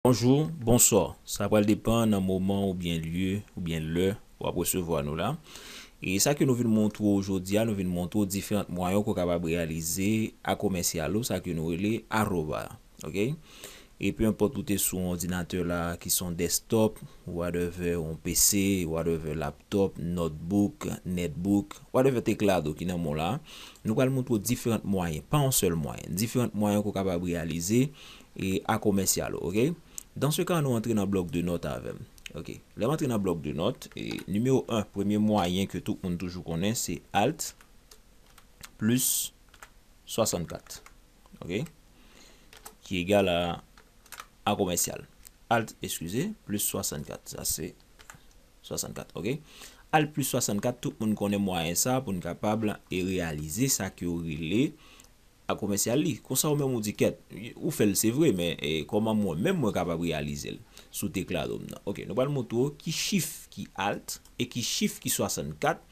Bonjou, bonswa, sa pral depan nan moman oubyen lye oubyen lè wap resevwa nou la. E sa ke nou vin montre w jodi a, nou vin montre w diferant mwayen ke w kapab reyalize a komèsyal ou, sa ke nou rele aroba. Ok. E pe enpòt ou te sou yon òdinatè la ki son desktop, whatever, yon PC, whatever, laptop, notebook, netbook, whatever teklado ki nan men w la, nou pral montre w diferant mwayen, pa yon sèl mwayen, diferant mwayen ke w kapab reyalize E a komèsyal ou, ok? Dans se ka nou antre nan blòk de nòt avè m. Ok. Lè m antre nan blòk de nòt, e nimewo 1, premye mwayen ke tout moun toujou konnen, se alt plis 64. Ok. Ki egal a a komèsyal. Alt, eskize, plis 64. Sa se 64, ok. Alt plis 64, tout moun konnen mwayen sa pou n kapab e reyalize sa ke yo rele. A komèsyal li, konsa ou menm ou di kèt, ou fè l se vre men kòman mwen menm mwen kapab reyalize l sou teklado m nan. Ok, nou pral montre w ki chif ki alt e ki chif ki 64,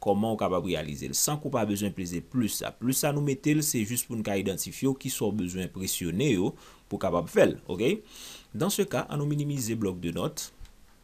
kòman ou kapab reyalize l san ke w pa bezwen peze plis sa. Plis sa nou mete l se jis pou n ka idantifye w ki sa w bezwen presyone yo pou w kapab fè l. Ok, dan se ka, an nou minimize blòk de nòt.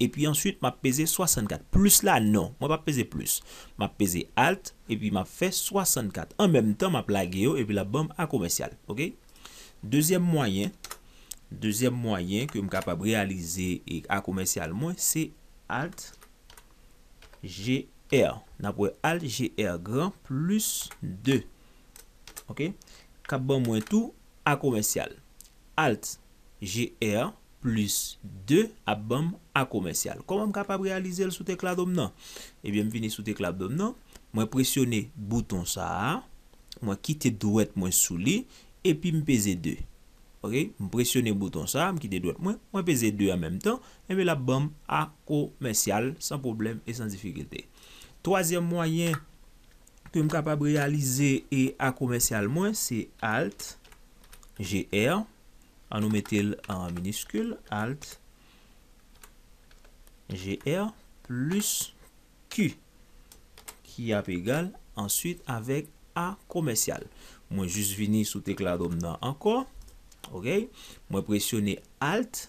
Epi answit map peze 64. Plis la non. Mwen pap peze plis. Map peze Alt epi map fè 64. An menm tan map lage yo epi lap banm a komèsyal. Ok. Dezyèm mwayen, dezyèm mwayen ke m kapab reyalize a komèsyal mwen se Alt GR. Nap wè Alt GR gran plis 2. Ok. Kap ban mwen tou a komèsyal. Alt, GR, plis 2 ap ban m A komèsyal. Kòman m kapab reyalize l sou teklado m nan? Ebyen m vini sou teklado m nan, mwen presyone bouton sa a, mwen kite dwèt mwen sou li, epi m peze 2. Ok, m presyone bouton sa a, m kite dwèt mwen, mwen peze 2 an menm tan, enben l ap ban m A komèsyal san pwoblèm e san difikilte. Twazyèm mwayen. Ke m kapab reyalize e a komèsyal mwen se alt GR an nou mete l an miniskil alt GR plis Q ki ap egal answit avèk a komèsyal mwen jis vini sou tekladom nan ankò ok mwen presyone alt.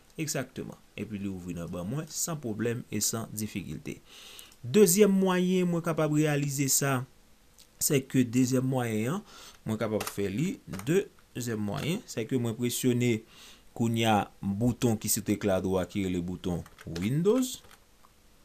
Egzakteman. Epi li ouvri nan ban mwen san pwoblèm e san difikilte. Dezyèm mwayen mwen kapab reyalize sa, se ke dezyèm mwayen an, mwen kapab fè li, de, zyèm mwayen, se ke mwen presyone kounye a bouton ki sou tekla dwat ki rele bouton Windows.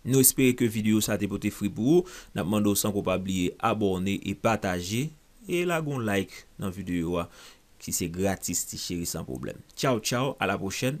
Nou espere ke video sa te pote fri pou ou, nap mande w san pou w pa bliye abòne e pataje e lage yon like nan video a ki se gratis ti cheri san pwoblèm. Tchaw tchaw a la pwochèn.